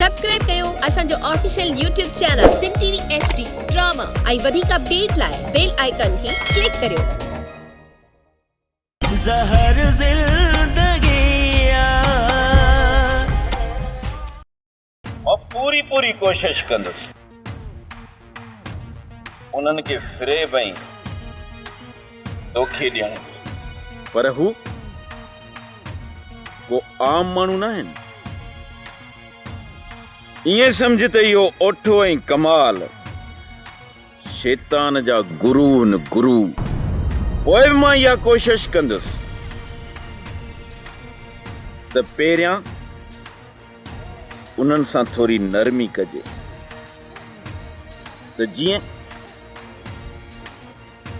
Subscribe ڪيو اسان جو official YouTube channel Sindh TV H D drama ۽ وڌيڪ اپڊيٽ لاء بيل آئيڪان کي ڪلڪ ڪريو. زهر زندگي آ. مان پوري پوري ڪوشش ڪندس. انهن کي فريب ۽ دوکي ڏيڻ گهرجي. پر هو ڪو عام ماڻهو ناهن. ائين سمجهه ته اهو اوٺو ۽ ڪمال شيطان جا گرو هن گرو پوء به مان اها ڪوشش ڪندس ته پهريان. انهن سان ٿوري نرمي ڪجي ته جيئن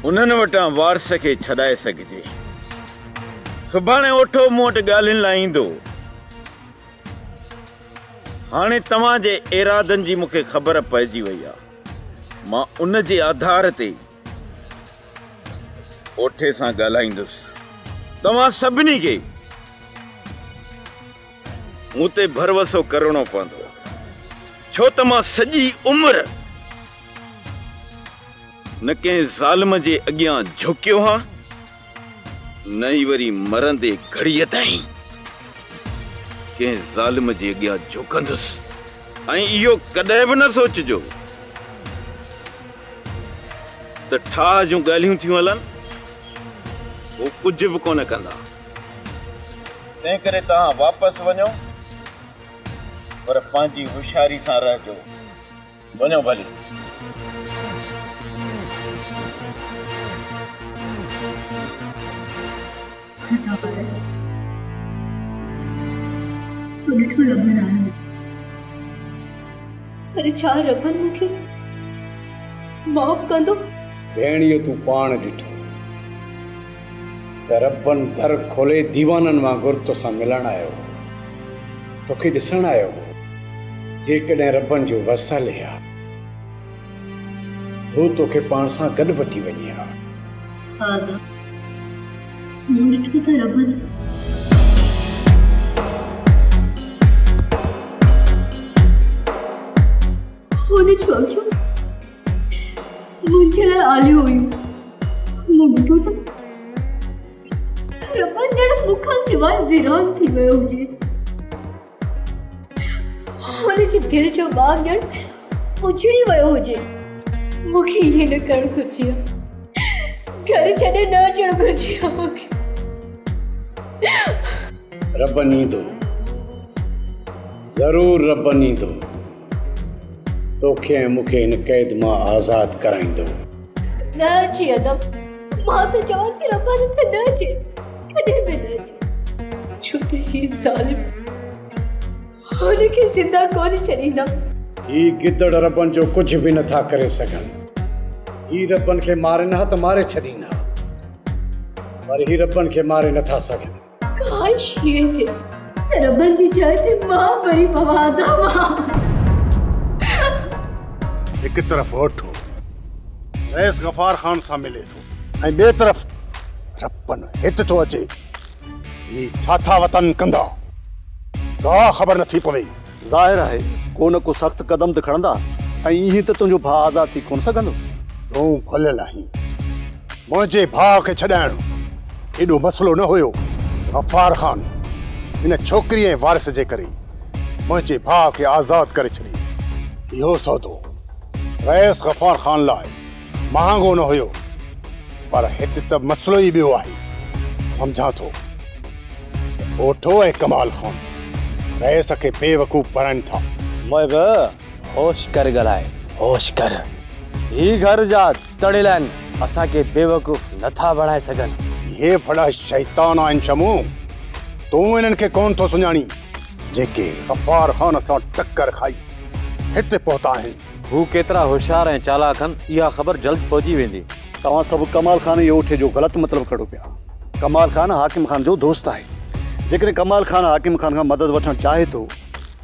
انهن وٽان وارث کي ڇڏائي سگهجي. سڀاڻي اوٺو مون وٽ ڳالهين لاء ايندو. هاڻي توهان جي ارادن جي مون کي خبر پئجي وئي آهي. مان ان جي آڌار تي اوٺي سان ڳالهائيندس. توهان سڀني کي مون تي ڀروسو ڪرڻو پوندو ڇو ته مان سڄي عمر نه ڪنهن ظالم جي اڳيان جهڪيو ها نه ئي وري مرندي گهڙيء تائين ڪنهن ظالم جي اڳيان جهڪندس ۽ اهو ڪڏهن به نه سوچجو ته ٺاهه جون ڳالهيون ٿيون هلن هو ڪجهه به ڪونه ڪندا تنهن ڪري توهان واپس وڃو پر پنهنجي هوشياري سان رهجو. وڃو ڀلي. هتان پارس تو ڏٺو ربن آهي. پر ڇا ربن مون کي معاف ڪندو؟ ڀيڻ اهو تون پاڻ ڏٺو. ته ربن در کولي ديوانن وانگر توسان ملڻ آيو هو، توکي ڏسڻ آيو هو، جيڪڏهن ربن جو وس هلي ها ته هو توکي پاڻ سان گڏ وٺي وڃي ها. آدم، مون ڏٺو ته ربن. هن ڇا ڪيو؟ منهنجي لاء آليون هيون. مون ڏٺو ته رٻن ڄڻ مون کان سواء ويران ٿي ويو هجي. هن جي دل جو باغ ڄڻ اجڙي ويو هجي. مون کي ائين نه ڪرڻ گهرجي ها. گهر ڇڏي نه اچڻ گهرجي ها مون کي. رٻن ايندو. ضرور رٻن ايندو. توکي ۽ مون کي هن قيد مان آزاد ڪرائيندو. نه اچي ادب. مان ته چوان ٿي رباني ته نه اچي. ڪڏهن به نه اچي. ڇو ته هي ظالم هن کي زنده ڪونه ڇڏيندا. هي گدڙ ربن جو ڪجهه به نه ٿا ڪري سگهن. هي ربن کي مارين ها ته ماري ڇڏين ها. پر هي ربن کي ماري نه ٿا سگهن. ڪاش ائين ٿئي ته ربن جي جاء تي مان مري پوان ادا مان. هڪ طرف اوٺو رئيس غفار خان سان ملي ٿو ۽ ٻئي طرف ربن هت ٿو اچي. هي ڇا ٿا وتن ڪندا. ڪا خبر نٿي پوي. ظاهر آهي ڪو نه ڪو سخت قدم ته کڻندا ۽ ائين ته تنهنجو ڀاء آزاد ٿي ڪونه سگهندو. تون ڀليل آهين. منهنجي ڀاء کي ڇڏائڻ ايڏو مسئلو نه هيو. غفار خان ان ڇوڪري ۽ وارث جي ڪري منهنجي ڀاء کي آزاد ڪري ڇڏي. اهو سودو رئيس غفار خان لاء مهانگو نه هيو پر هت ته مسئلو ئي ٻيو آهي سمجهان ٿو ته اوٺو ۽ ڪمال خان رئيس کي بيوقوف بڻائين ٿا. محب هوش ڪر ڳالهاء هوش ڪر هي گهر جا تڙيل آهن اسان کي بيوقوف نه ٿا بڻائي سگهن. اهي وڏا شيطان آهن شمو تون انهن کي ڪونه ٿو سڃاڻين جيڪي غفار خان سان ٽڪر کائي هت پهتا آهن. هو ڪيترا هوشيار ۽ چالاڪ هن اها خبر جلد پهجي ويندي. توهان سڀ ڪمال خان ۽ اوٺي جو غلط مطلب ڪڍو پيا. ڪمال خان حاڪم خان جو دوست آهي. جيڪڏهن ڪمال خان حاڪم خان کان مدد وٺڻ چاهي ٿو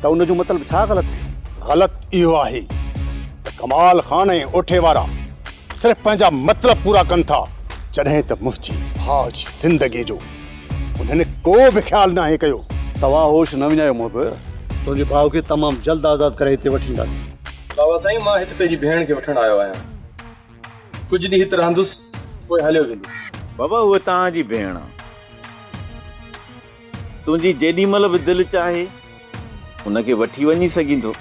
ته ان جو مطلب ڇا غلط ٿيو؟ غلط اهو آهي ته ڪمال خان ۽ اوٺي وارا صرف پنهنجا مطلب پورا ڪن ٿا جڏهن ته منهنجي ڀاء جي زندگي جو انهن ڪو به خيال ناهي ڪيو. توهان هوش نه وڃايو محب. تنهنجي ڀاء کي تمام جلد آزاد ڪري هتي وٺي اينداسين. بابا سائين مان هت پنهنجي ڀيڻ کي وٺڻ آيو آهيان. ڪجهه ڏينهن هت رهندس پوء هليو ويندس. بابا هوء توهان جي ڀيڻ آ. تنهنجي جيڏي مهل به دل چاهي ان کي وٺي وڃي سگهيندو.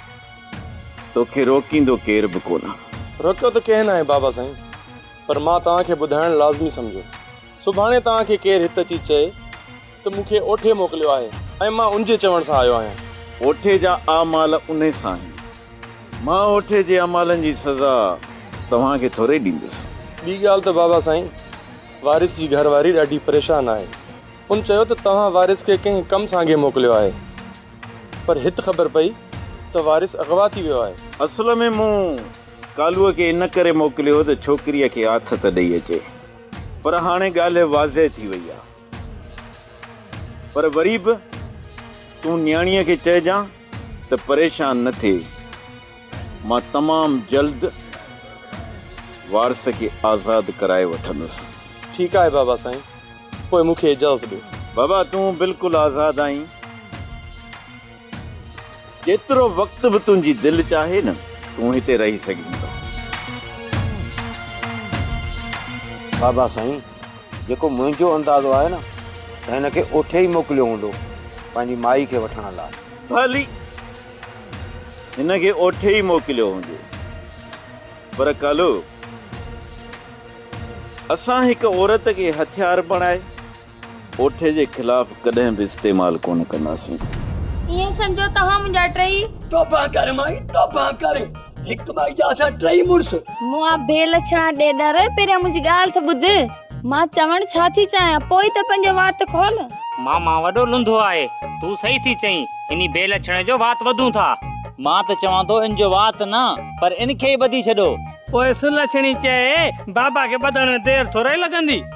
توکي روڪيندو ڪير به ڪونه. روڪيو ته ڪنهن ناهي بابا سائين پر مان توهان کي ٻڌائڻ لازمي سمجهيو. سڀاڻي توهان کي ڪير هت اچي چئي ته مون کي اوٺي موڪليو آهي ۽ مان ان جي چوڻ سان آيو آهيان. اوٺي جا اعمال انهي سان آهن. مان اوٺي جي اعمالن جي سزا توهان کي ٿورئي ڏيندس. ٻي ڳالهه ته بابا سائين، وارث جي گهر واري ڏاڍي پريشان آهي. ان چيو ته توهان وارث کي ڪنهن ڪم سانگي موڪليو آهي. پر هت خبر پئي ته وارث اغوا ٿي ويو آهي. اصل ۾ مون ڪالوء کي ان ڪري موڪليو هو ته ڇوڪريء کي آٿت ڏئي اچي. پر هاڻي ڳالهه واضح ٿي وئي آ. پر وري به تون نياڻيء کي چئجان ته پريشان نه ٿئي. مان تمام جلد وارث کي آزاد ڪرائي وٺندس. ٺيڪ آهي بابا سائين. پوء مون کي اجازت ڏيو. بابا تون بلڪل آزاد آهين. جيترو وقت به تنهنجي دل چاهي نه تون هتي رهي سگهين ٿو. بابا سائين جيڪو منهنجو اندازو آهي نه ته هن کي اوٺي ئي موڪليو هوندو پنهنجي مائي کي وٺڻ لاء. ڀلي هن کي اوٺي ئي موڪليو هوندو پر ڪالو اسان هڪ عورت کي هٿيار بڻائي اوٺي جي خلاف ڪڏهن به استعمال ڪونه ڪنداسين. ائين سمجهو توهان منهنجا ٽئي. توبه ڪر مائي توبه ڪر. هڪ مائي جا اسان ٽئي مڙس. مون آ بي لڇڻا ڏيڏر پهريان منهنجي ڳالهه ته ٻڌ. مان چوڻ ڇا ٿي چاهيان پوء ئي ته پنهنجو وات کول. ماما وڏو لنڌو آهي. تون صحيح ٿي چئين انهي بي لڇڻي جو وات ٻڌون ٿا. مان ته چوان ٿو ان جو وات نه پر ان کي ئي ٻڌي ڇڏو. پوء سلڇڻي چئي بابا کي ٻڌڻ ۾ دير ٿورئي لڳندي.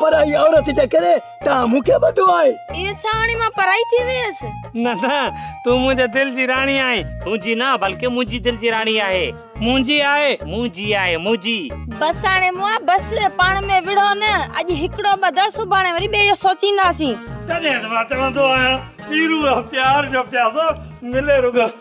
پرائي عورت جي ڪري توهان مون کي ٻڌو آهي. اي ڇا هاڻي مان پرائي ٿي ويس. نه نه تون منهنجي دل جي راڻي آهين. تنهنجي نه بلڪه منهنجي دل جي راڻي آهي. منهنجي آهي. منهنجي آهي منهنجي. بس هاڻي مئا بس پاڻ ۾ وڙهو نه اڄ هڪڙو ٻڌ سڀاڻي وري ٻئي جو سوچينداسين. تڏهن ته مان چوندو آهيان پيرو آ پيار جو پياسو ملي رڳو.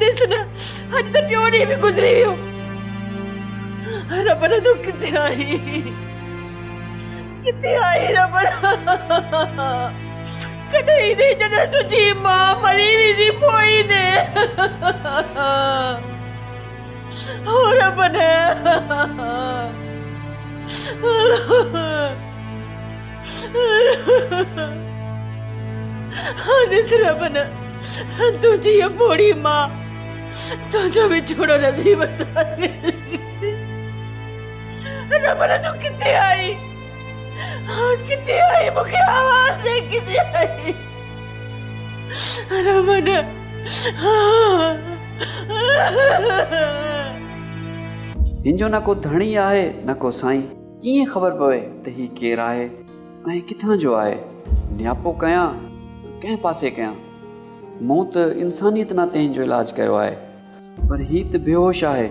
ڏس نه اڄ ته ٽيون ڏينهن به گذري ويو ربنا تون ڪٿي آهين ڪٿي آهين ربنا ڪڏهن ايندي جڏهن تنهنجي ماء مري ويندي پوء ايندي هو ربنا ڏس ربنا تنهنجي هيء پوڙهي ماء تنهنجو وڇوڙو نه ٿي برداشت ڪندي ربنا تون ڪٿي آهين ڪٿي آهين مون کي آواز ڏي ڪٿي آهين ربنا هن جو نه ڪو ڌڻي آهي نه ڪو سائين ڪيئن خبر پوي ته هي ڪير آهي ۽ ڪٿان جو آهي؟ نياپو ڪيان ته ڪنهن پاسي ڪيان؟ مون ته انسانيت ناتي هن جو علاج ڪيو آهي پر هي ته بيهوش آهي.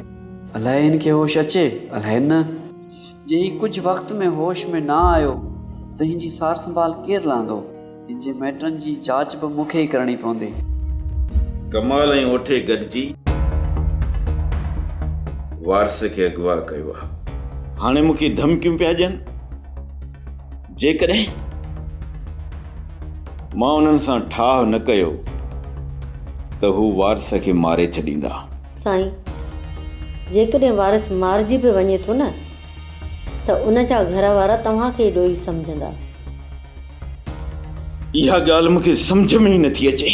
الائي هن کي هوش اچي الائي نه. جي هي ڪجهه وقت ۾ هوش ۾ نه آيو ته هن جي سار سنڀال ڪير لهندو؟ هن جي مئٽن جي جاچ به مون کي ئي ڪرڻي پوندي. ڪمال ۽ اوٺي گڏجي وارث کي اغوا ڪيو آهي. هاڻي مون کي ڌمڪيون پيا ڏين. جيڪڏهن مان انهن سان ٺاهه نه ڪيو ته هو وارث کي ماري ڇڏيندا. سائين، جيڪڏهن وارث مارجي به وڃي ٿو نه ته ان جا گهر وارا توهان کي ئي ڏوهي سمجهندا. اها ڳالهه مون کي سمجهه ۾ ئي نٿي اچي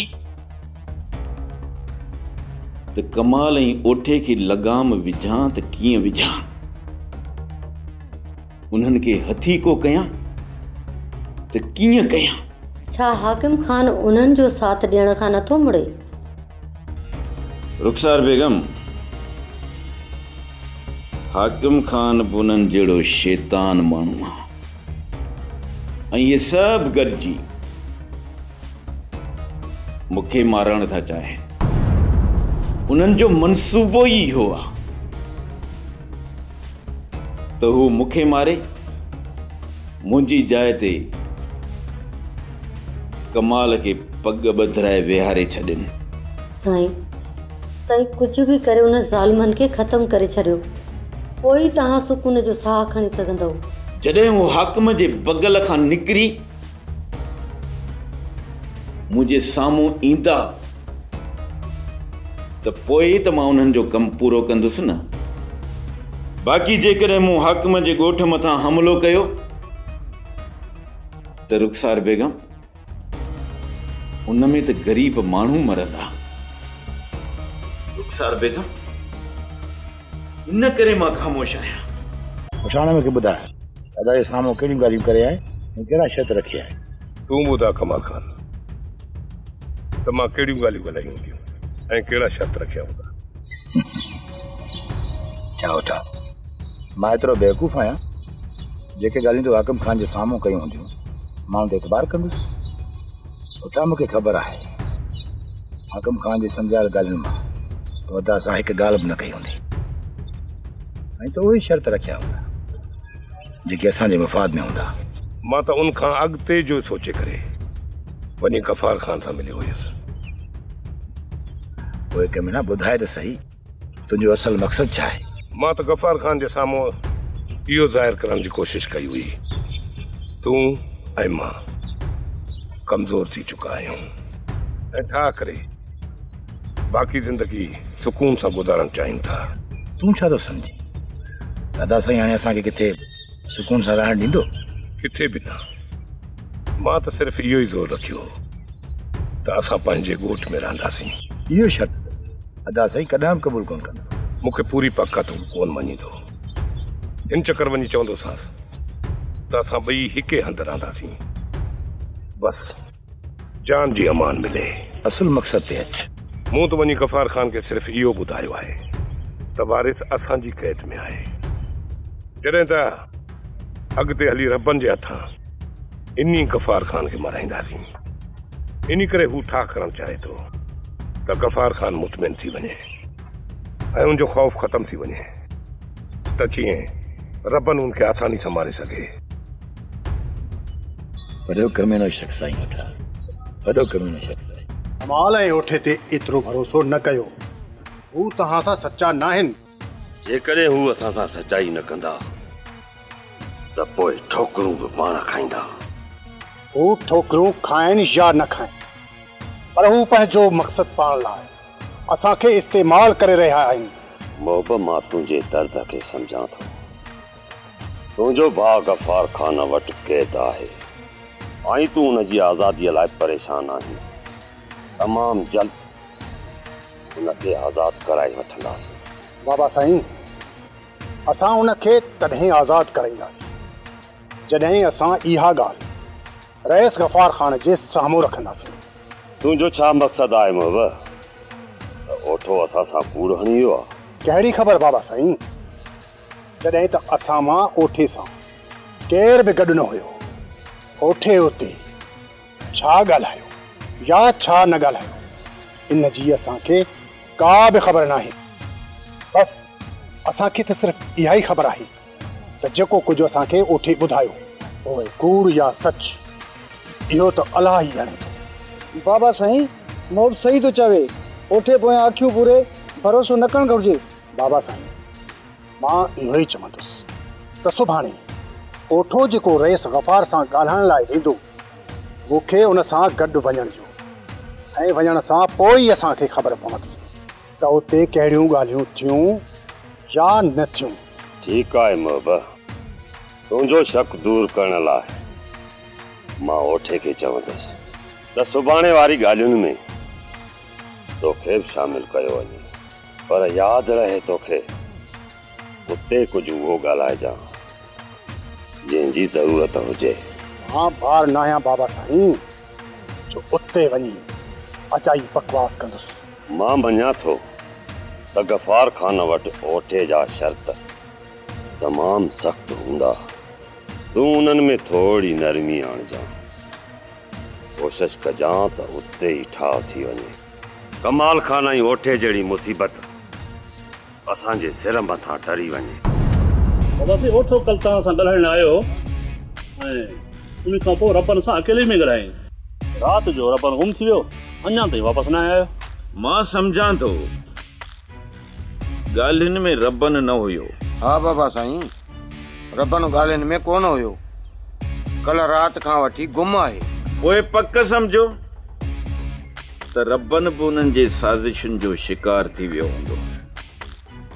ته ڪمال ۽ اوٺي کي لگام وجهان ته ڪيئن وجهان انهن کي هٿي ڪو ڪيان ته ڪيئن ڪيان ڇا حاڪم خان انهن جو ساٿ ڏيڻ کان نٿو مڙي؟ رخسار بيگم حاڪم خان به انهن جهڙو شيطان ماڻهو آهي ۽ اهي سڀ گڏجي مون کي مارڻ ٿا چاهين. انهن جو منصوبو ئي اهو آهي ته هو مون کي ماري منهنجي جاء تي ڪمال کي پڳ ٻڌرائي ويهاري ڇڏين. سائين سائين ڪجهه به ڪري انهن ظالمن کي ختم ڪري ڇڏيو پوء ئي توهان سڪون جو ساهه کڻي سگهندؤ. جڏهن هو حاڪم جي بغل کان نڪري منهنجي سامهون ايندا ته پوء ئي ته مان انهن جو ڪم پورو ڪندس نه. باقي جيڪڏهن مون حاڪم جي ڳوٺ مٿان حملو ڪيو ته رخسار بيگم! ان ۾ ته غريب ماڻهو مرندا. رخسار بيگم، ان ڪري مان خاموش آهيان. پٺاڻ مون کي ٻڌاء ته ادا جي سامهون ڪهڙيون ڳالهيون ڪري آهين ۽ ڪهڙا شرط رکي آهين. تون ٻڌاء ڪمال خان ته مان ڪهڙيون ڳالهيون ڳالهايون هونديون ۽ ڪهڙا شرط رکيا هوندا. ڇا هوٺا، مان ايترو بيوقوف آهيان. جيڪي ڳالهيون تو حاڪم خان جي سامهون ڪيون هونديون ماڻهن تي اعتبار ڪندس پٽا مون کي خبر آهي حاڪم خان جي سمجهايل ڳالهين مان تو ادا اسان هڪ ڳالهه به نه ڪئي هوندي ۽ تو اهي شرط رکيا هوندا جيڪي اسان جي مفاد ۾ هوندا مان ته ان کان اڳتي جو سوچي ڪري وڃي غفار خان سان مليو هيس پوء ڪمينا ٻڌاء ته سهي تنهنجو اصل مقصد ڇا آهي؟ مان ته غفار خان جي سامهون اهو ظاهر ڪرڻ جي ڪوشش ڪئي هئي تون ۽ مان ڪمزور ٿي چڪا آهيون ۽ ٺاهه ڪري باقي زندگي سڪون سان گذارڻ چاهيون ٿا. تون ڇا ٿو سمجهين ته ادا سائين هاڻي اسان کي ڪٿي سڪون سان رهڻ ڏيندو؟ ڪٿي به نه. مان ته صرف اهو ئي زور رکيو هو ته اسان پنهنجي ڳوٺ ۾ رهنداسين. اهو شرط ته ادا سائين ڪڏهن به قبول ڪون ڪندو. مون کي پوري پڪ آ ته هو ڪون مڃيندو. هن چڪر وڃي چوندوسانس ته اسان ٻئي هڪ ئي هنڌ رهنداسين. بس جان جي امان ملي. اصل مقصد تي اچ. مون ته وڃي غفار خان کي صرف اهو ٻڌايو آهي ته وارث اسان جي قيد ۾ آهي. جڏهن ته اڳتي هلي ربن جي هٿان. انهي غفار خان کي مارائينداسين، انهي ڪري هو ٺاهه ڪرڻ چاهي ٿو ته غفار خان مطمئن ٿي وڃي ۽ ان جو خوف ختم ٿي وڃي ته جيئن ربن ان کي آساني سان ماري سگهي. وڏو ڪميڻو شخص آهين هوٺا، وڏو ڪميڻو شخص آهين. مال ۽ هوٺي تي ايترو ڀروسو نه ڪيو، هو توهان سان سچا ناهن. جيڪڏهن هو اسان سان سچائي نه ڪندا ته پوء ٺوڪرون به پاڻ کائيندا. هو ٺوڪرون کائن يا نه کائن پر هو پنهنجو مقصد پاڻ لاء اسان کي استعمال ڪري رهيا آهن. محب مان تنهنجي درد کي سمجهان ٿو. تنهنجو ڀاء غفار خان وٽ قيد آهي ۽ تون ان جي آزادي لاء پريشان آهين. تمام جلد. ان کي آزاد ڪرائي وٺنداسين. بابا سائين اسان ان کي تڏهن آزاد ڪرائينداسين جڏهن اسان اها ڳالهه رئيس غفار خان جي سامهون رکنداسين. تنهنجو ڇا مقصد آهي محب؟ ته اوٺو اسان سان ڪوڙ هڻي ويو آهي. ڪهڙي خبر بابا سائين جڏهن ته اسان مان اوٺي سان ڪير به گڏ نه هيو. اوٺي اتي. ڇا ڳالهايو يا ڇا نه ڳالهايو ان جي اسان کي ڪا به خبر ناهي بس اسان کي ته صرف اها ئي خبر آهي ته جيڪو ڪجهه اسان کي اوٺي ٻڌايو پوء ڪوڙ يا سچ اهو ته الله ئي ڄاڻي ٿو. بابا سائين مون به صحيح ٿو چوي اوٺي پويان اکيون پوري ڀروسو نه ڪرڻ گهرجي. بابا سائين مان اهو ئي چوندس ته سڀاڻي اوٺو جيڪو رئيس غفار سان ڳالهائڻ لاء ويندو مون کي ان سان گڏ وڃڻ ڏيو ۽ وڃڻ سان پوء ئي اسان کي خبر پوندي ته اتي ڪهڙيون ڳالهيون ٿيون يا نه ٿيون. ٺيڪ آهي محبه، تنهنجو شڪ دور ڪرڻ لاء مان اوٺي کي چوندس ته سڀاڻي واري ڳالهين ۾ توکي به شامل ڪيو وڃي پر ياد رهي توکي اتي ڪجهه اهو ڳالهائجان، جنهن جي ضرورت هجي. مان بار ناهيان بابا سائين، جو اتي وڃي اجائي بڪواس ڪندس. مان مڃان ٿو ته غفار خان وٽ اوٺي جا شرط تمام سخت هوندا. تون انهن ۾ ٿورڙي نرمي آڻجان. ڪوشش ڪجان ته اتي ئي ٺاهه ٿي وڃي. ڪمال خان ۽ اوٺي جهڙي مصيبت! اسان جي سر مٿان ٽري وڃي. بابا سي اوٺو ڪل توهان سان ڳالهائڻ لاء آيو هو ۽ ان کان پوء ربن سان اڪيلي ۾ ڳالهايائين. رات جو ربن گم ٿي ويو اڃان تائين واپس ناهي آيو. مان سمجهان ٿو ڳالهين ۾ ربن نه هيو. ها بابا سائين. ربڻ ڳالهين ۾ ڪونه هيو. ڪلهه رات کان وٺي گم آهي. پوء پڪ سمجهو ته ربڻ به انهن جي سازشن جو شڪار ٿي ويو هوندو.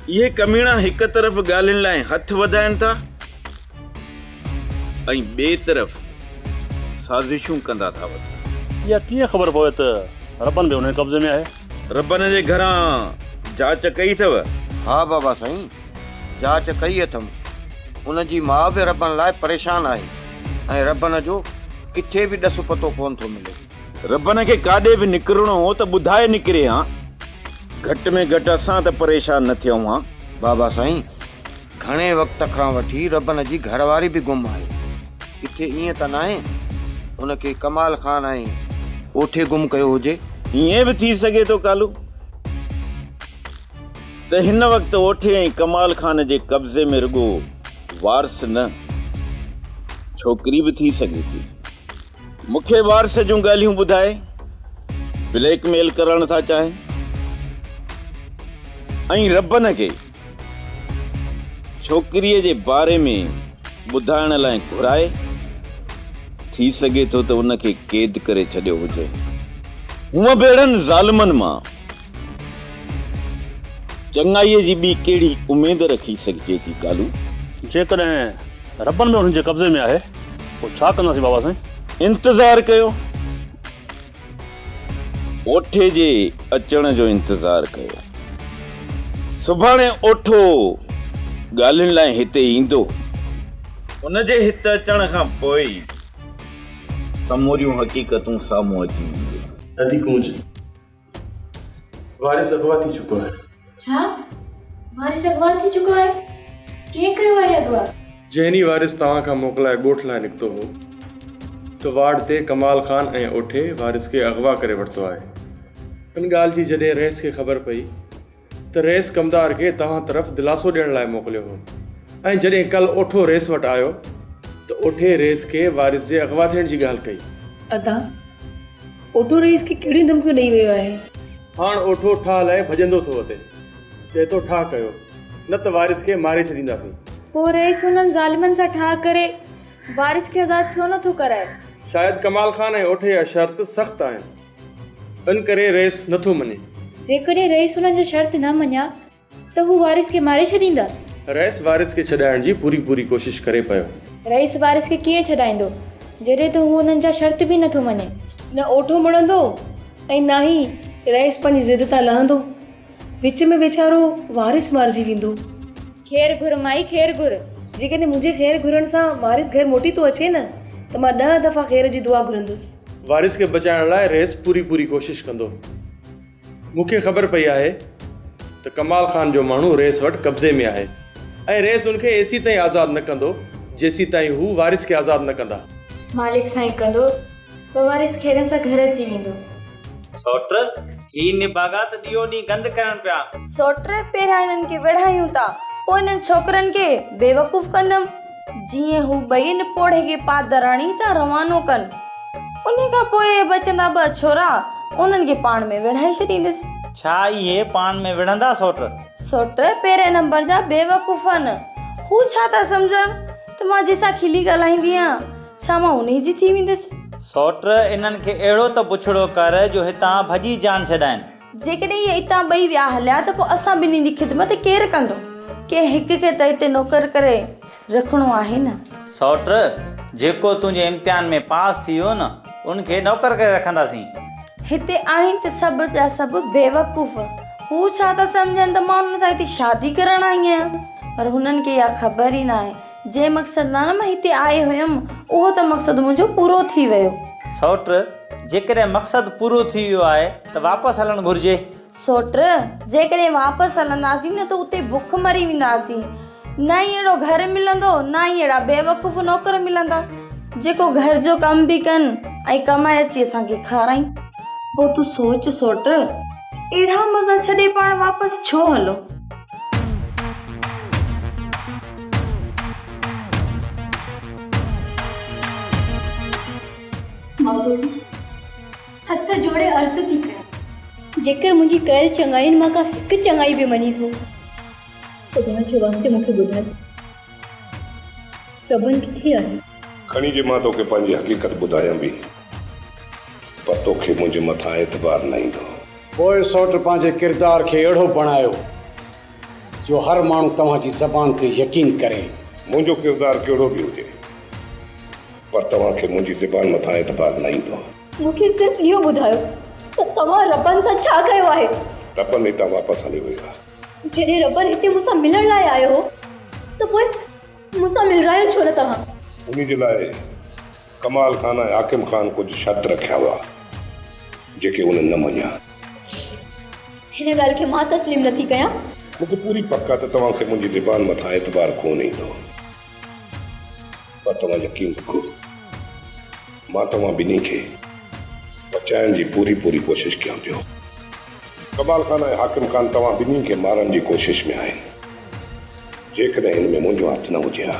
اهي ڪميڻا هڪ طرف ڳالهين لاء هٿ وڌائين ٿا ۽ ٻئي طرف سازشون ڪندا ٿا وڃن. اها ڪيئن خبر پوي ته ربڻ به انهن قبضي ۾ آهي؟ ربڻ جي گهران جاچ ڪئي اٿو؟ ها بابا سائين. جاچ ڪئي اٿم. ان جي ماء به ربن لاء پريشان آهي ۽ ربن جو ڪٿي به ڏس پتو ڪونه ٿو ملي. ربن کي ڪاڏي به نڪرڻو هو ته ٻڌائي نڪري ها. گهٽ ۾ گهٽ اسان ته پريشان نه ٿيون ها. بابا سائين، گهڻي وقت کان وٺي ربن جي گهر واري به گم آهي. ڪٿي ائين ته ناهي ان کي ڪمال خان ۽ اوٺي گم ڪيو هجي. ائين به ٿي سگهي ٿو ڪالو. ته هن وقت اوٺي ۽ ڪمال خان جي قبضي ۾ رڳو وارث نه ڇوڪري به ٿي سگهي ٿي. مون کي وارث جون ڳالهيون ٻڌائي بليڪ ميل ڪرڻ ٿا چاهين ۽ ربن کي ڇوڪريء جي باري ۾ ٻڌائڻ لاء گهرائي ٿي سگهي ٿو ته ان کي قيد ڪري ڇڏيو هجي. هونء به اهڙن ظالمن مان چڱائيء جي ٻي ڪهڙي اميد رکي سگهجي ٿي ڪالو؟ جيڪڏهن ربن به انهن جي قبضي ۾ آهي پوء ڇا ڪنداسين بابا سائين؟ انتظار ڪيو. اوٺي جي اچڻ جو انتظار ڪيو. سڀاڻي اوٺو ڳالهين لاء هتي ايندو. ان جي هت اچڻ کان پوء ئي سموريون حقيقتون سامهون اچي وينديون. ادي ڪونج. وارث اغوا ٿي چڪو آهي ڇا وارث اغوا ٿي چڪو آهي ڪنهن ڪيو آهي اغوا جنهن ئي وارث توهان کان موڪلائي ڳوٺ لاء نڪتو هو ته وارڊ تي ڪمال خان ۽ اوٺي وارث کي اغوا ڪري ورتو آهي ان ڳالهه جي جڏهن رئيس کي خبر پئي ته رئيس ڪمدار کي توهان طرف دلاسو ڏيڻ لاء موڪليو هو ۽ جڏهن ڪل اوٺو رئيس وٽ آيو ته اوٺي رئيس کي وارث جي اغوا ٿيڻ جي ڳالهه ڪئي. ادا، اوٺو رئيس کي ڪهڙيون ڌمڪيون ڏئي ويو آهي؟ هاڻ اوٺو ٺاهه لائي ڀڄندو ٿو اچي. چئي ٿو ٺاهه ڪيو، نه ته وارث کي ماري ڇڏينداسين. پوء رئيس انهن ظالمن سان ٺاهه ڪري وارث کي آزاد ڇو نه ٿو ڪرائي؟ شايد ڪمال خان ۽ اوٺي جا شرط سخت آهن. ان ڪري رئيس نه ٿو مڃي. جيڪڏهن رئيس انهن جا شرط نه مڃيا ته هو وارث کي ماري ڇڏيندا. رئيس وارث کي ڇڏائڻ جي پوري پوري ڪوشش ڪري پيو. رئيس وارث کي ڪيئن ڇڏائيندو جڏهن ته هو انهن جا شرط به نه ٿو مڃي. نه اوٺو مڙندو ۽ نه ئي رئيس پنهنجي ضد تان لهندو. وچ ۾ ويچارو وارث مارجي ويندو. خير گهر مائي خير گهر. جيڪڏهن منهنجي خير گهرڻ سان وارث گهر موٽي ٿو اچي نه ته مان ڏهه دفعا خير جي دعا گهرندس. وارث کي بچائڻ لاء رئيس پوري پوري ڪوشش ڪندو. مون کي خبر پئي آهي ته ڪمال خان جو ماڻهو رئيس وٽ قبضي ۾ آهي ۽ رئيس ان کي ايسيتائين آزاد نه ڪندو جيسيتائين هو وارث کي آزاد نه ڪندا. مالڪ سائين ڪندو. تو وارث کيرن سان گهر اچي ويندو. سؤٽ، هي نڀاڳا ته ڏينهون ڏينهن گند ڪرن پيا. سؤٽ، پهريان هنن کي وڙهايون ٿا، پوء هنن ڇوڪرن کي بيوقوف ڪندم. جيئن هو ٻئي نپوڙهي کي پادراڻي تان روانو ڪن. انهيء کان پوء اهي بچندا ٻه ڇورا، انهن کي پاڻ ۾ وڙهائي ڇڏيندس. ڇا اهي پاڻ ۾ وڙهندا سؤٽ؟ سؤٽ، پهرئين نمبر جا بيوقوف آهن. هو ڇا ٿا سمجهن ته مان جنهن سان کلي ڳالهائيندي آهيان. ڇا مان انهيء جي ٿي ويندس؟ سؤٽ، انهن کي اهڙو ته بڇڙو ڪر جو هتان ڀڄي جان ڇڏائين. جيڪڏهن اهي اتان ٻئي ويا هليا ته پوء اسان ٻنهي جي خدمت ڪير ڪندو؟ ڪنهن هڪ کي ته هتي نوڪر ڪري رکڻو آهي نه؟ سؤٽ، جيڪو تنهنجي امتحان ۾ پاس ٿي ويو نه، ان کي نوڪر ڪري رکنداسين. هتي آهن ته سڀ جا سڀ بيوقوف. هو ڇا ٿا سمجهن ته مان انهن سان هتي شادي ڪرڻ آئي آهيان؟ پر هنن کي اها خبر ئي ناهي جنهن مقصد لاء نه مان هتي آئي هيم، اهو ته مقصد منهنجو پورو ٿي ويو. سئوٽ، جيڪڏهن مقصد پورو ٿي ويو آهي ته واپس هلڻ گهرجي. سئوٽ، جيڪڏهن واپس هلنداسين نه ته اتي بک مري وينداسين. نه ئي اهڙو گهر ملندو، نه ئي اهڙا بيوقوف نوڪر ملندا، جيڪو گهر جو ڪم به ڪن ۽ ڪمائي اچي اسان کي کارائين. پوء تون سوچ سئوٽ، اهڙا مزا ڇڏي پاڻ واپس ڇو هلون؟ مغدوري هٿ جوڙي عرض ٿي ڪيان جيڪر منهنجي ڪيل چڱائين مان ڪا هڪ چڱائي به مڃي ٿو خدا جي واسطي مون کي ٻڌاء ربن ڪٿي آهي کڻي جي مان توکي پنهنجي حقيقت ٻڌايان به پر توکي منهنجي مٿان اعتبار نه ايندو پوء سوٽ پنهنجي ڪردار کي اهڙو بڻايو جو هر ماڻهو توهان جي زبان تي يقين ڪري. منهنجو ڪردار ڪهڙو به هجي پر توهان کي منهنجي زبان مٿان اعتبار نه ايندو. مون کي صرف اهو ٻڌايو ته توهان ربن سان ڇا ڪيو آهي؟ ربن هتان واپس هلي ويو آهي. جڏهن ربن هتي مون سان ملڻ لاء آيو هو ته پوء مون سان ملرايو ڇو نه توهان؟ انهي جي لاء ڪمال خان ۽ حاڪم خان ڪجهه شرط رکيا هئا، جيڪي هن نه مڃيا. هن ڳالهه کي مان تسليم نٿي ڪيان. مون کي پوري پڪ آ ته توهان کي منهنجي زبان مٿان اعتبار ڪونه ايندو. پر توهان يقين رکو، مان توهان ٻنهي کي بچائڻ جي پوري پوري ڪوشش ڪيان پيو. ڪمال خان ۽ حاڪم خان توهان ٻنهي کي مارڻ جي ڪوشش ۾ آهن. جيڪڏهن ان ۾ منهنجو هٿ نه هجي ها.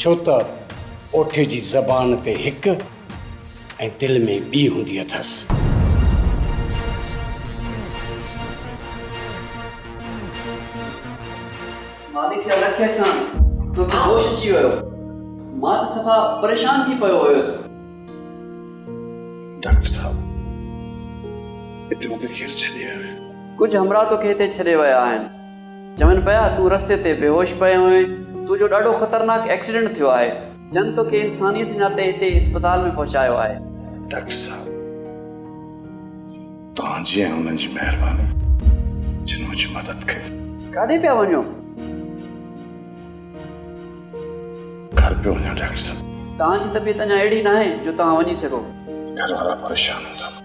ڇو ته اوٺي جي زبان تي هڪ ۽ دل ۾ ٻي هوندي اٿس. مالڪ جي الکي سان تو کي هوش اچي ويو. مان ته صفا پريشان ٿي پيو هيس. ڊاڪٽر صاحب هتي مون کي ڪير ڇڏي ويو آهي؟ ڪجهه همراهه تو کي هتي ڇڏي ويا آهن. چون پيا تون رستي تي بيهوش پيو آهين، تو جو ڏاڍو خطرناڪ ايڪسيڊنٽ ٿيو آهي، جن تو کي انسانيت جي ناتي هتي اسپتال ۾ پهچايو آهي. ڊاڪٽر صاحب توهان جي ۽ انهن جي مهرباني جن منهنجي مدد ڪئي. ڪاڏي پيا وڃو؟ گهر پيو وڃان ڊاڪٽر صاحب. توهان جي طبيعت اڃا اهڙي ناهي جو توهان وڃي سگهو. گهر وارا پريشان هوندا.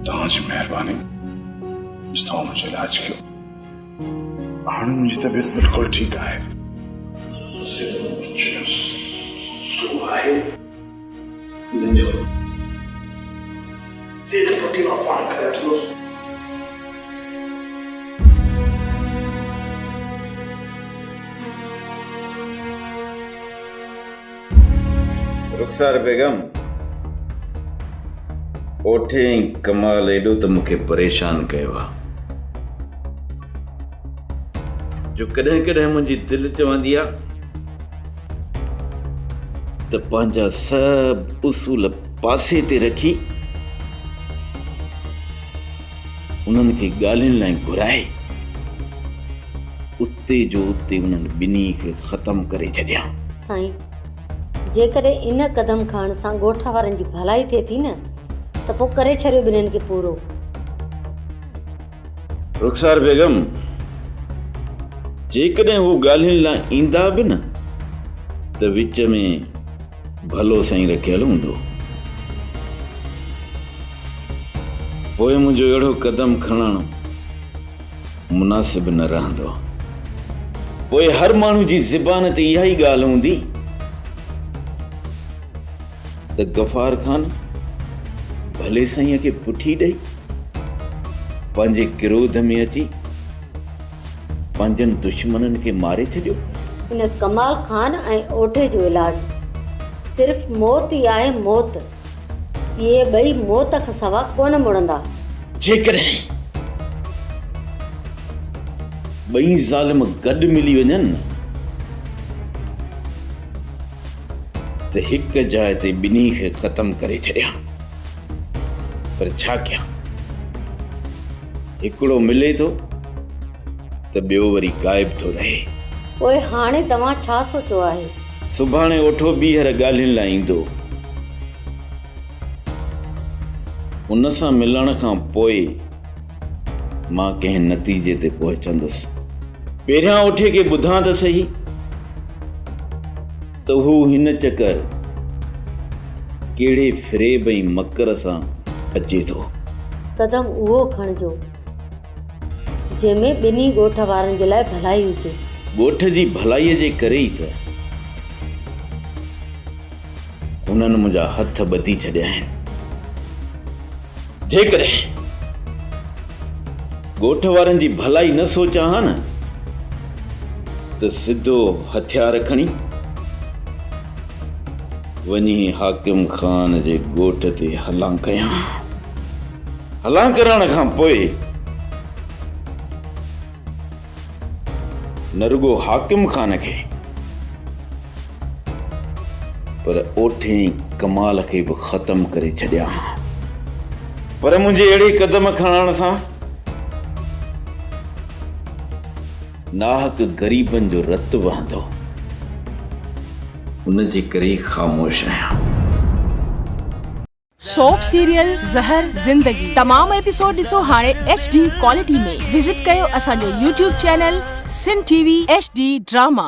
توهان جي مهرباني جو توهان منهنجو علاج ڪيو هاڻي منهنجي طبيعت بلڪل ٺيڪ آهي رخسار بيگم اوٺي ۽ ڪمال ايڏو ته مون کي پريشان ڪيو آ جو ڪڏهن ڪڏهن منهنجي دل چوندي آ ته پنهنجا سڀ اصول پاسي تي رکي انهن کي ڳالهين لاء گهرائي اتي جو اتي انهن ٻنهي کي ختم ڪري ڇڏيان. سائين! جيڪڏهن ان قدم کڻڻ سان ڳوٺ وارن جي ڀلائي ٿئي ٿي نه ته پوء ڪري ڇڏيو ٻنهين کي پورو. رخسار بيگم! جيڪڏهن هو ڳالهين لاء ايندا به نه ته وچ ۾ ڀلو سائين رکيل هوندو. پوء منهنجو اهڙو قدم کڻڻ. مناسب نه رهندو. پوء هر ماڻهو جي زبان تي اها ئي ڳالهه هوندي ته غفار خان ڀلي سائينء کي پٺي ڏئي، پنهنجي ڪروڌ ۾ اچي پنهنجن دشمنن کي ماري ڇڏيو. ان ڪمال خان ۽ اوٺي جو علاج صرف موت ئي آهي، موت! اهي ٻئي موت کان سوا ڪونه مڙندا. جيڪڏهن ٻئي ظالم گڏ ملي وڃن ته هڪ جاء تي ٻنهي کي ختم ڪري ڇڏيان، پر ڇا ڪيان؟ هڪڙو ملي ٿو ته ٻيو وري غائب ٿو رهي. پوء هاڻي توهان ڇا سوچيو آهي؟ سڀاڻي اٺو ٻيهر ڳالهين لاء ايندو. ان سان ملڻ کان پوء مان ڪنهن نتيجي تي پهچندس. پهريان اٺي کي ٻڌان ته سهي ته هو هن چڪر ڪهڙي فريب ۽ مڪر سان اچي ٿو. قدم اهو کڻجو. جنهن ۾ ٻنهي ڳوٺ وارن جي لاء ڀلائي هجي. ڳوٺ جي ڀلائيء جي ڪري ئي ته هنن منهنجا هٿ ٻڌي ڇڏيا آهن. جيڪڏهن ڳوٺ وارن جي ڀلائي نه سوچان ها نه ته سڌو هٿيار کڻي وڃي حاڪم خان جي ڳوٺ تي حلان ڪيان ها. هلان ڪرڻ کان پوء نه رڳو حاڪم خان کي پر اوٺين ڪمال کي به ختم ڪري ڇڏيان ها پر منهنجي اهڙي قدم کڻڻ سان ناحق غريبن جو رت وهندو ان جي ڪري خاموش آهيان. سوپ سيريل زهر زندگي تمام ايپيسوڊ ڏسو هاڻي ايڇ ڊي ڪوالٽي ۾ وزٽ ڪيو اسان جو YouTube channel Sindh TV H D drama.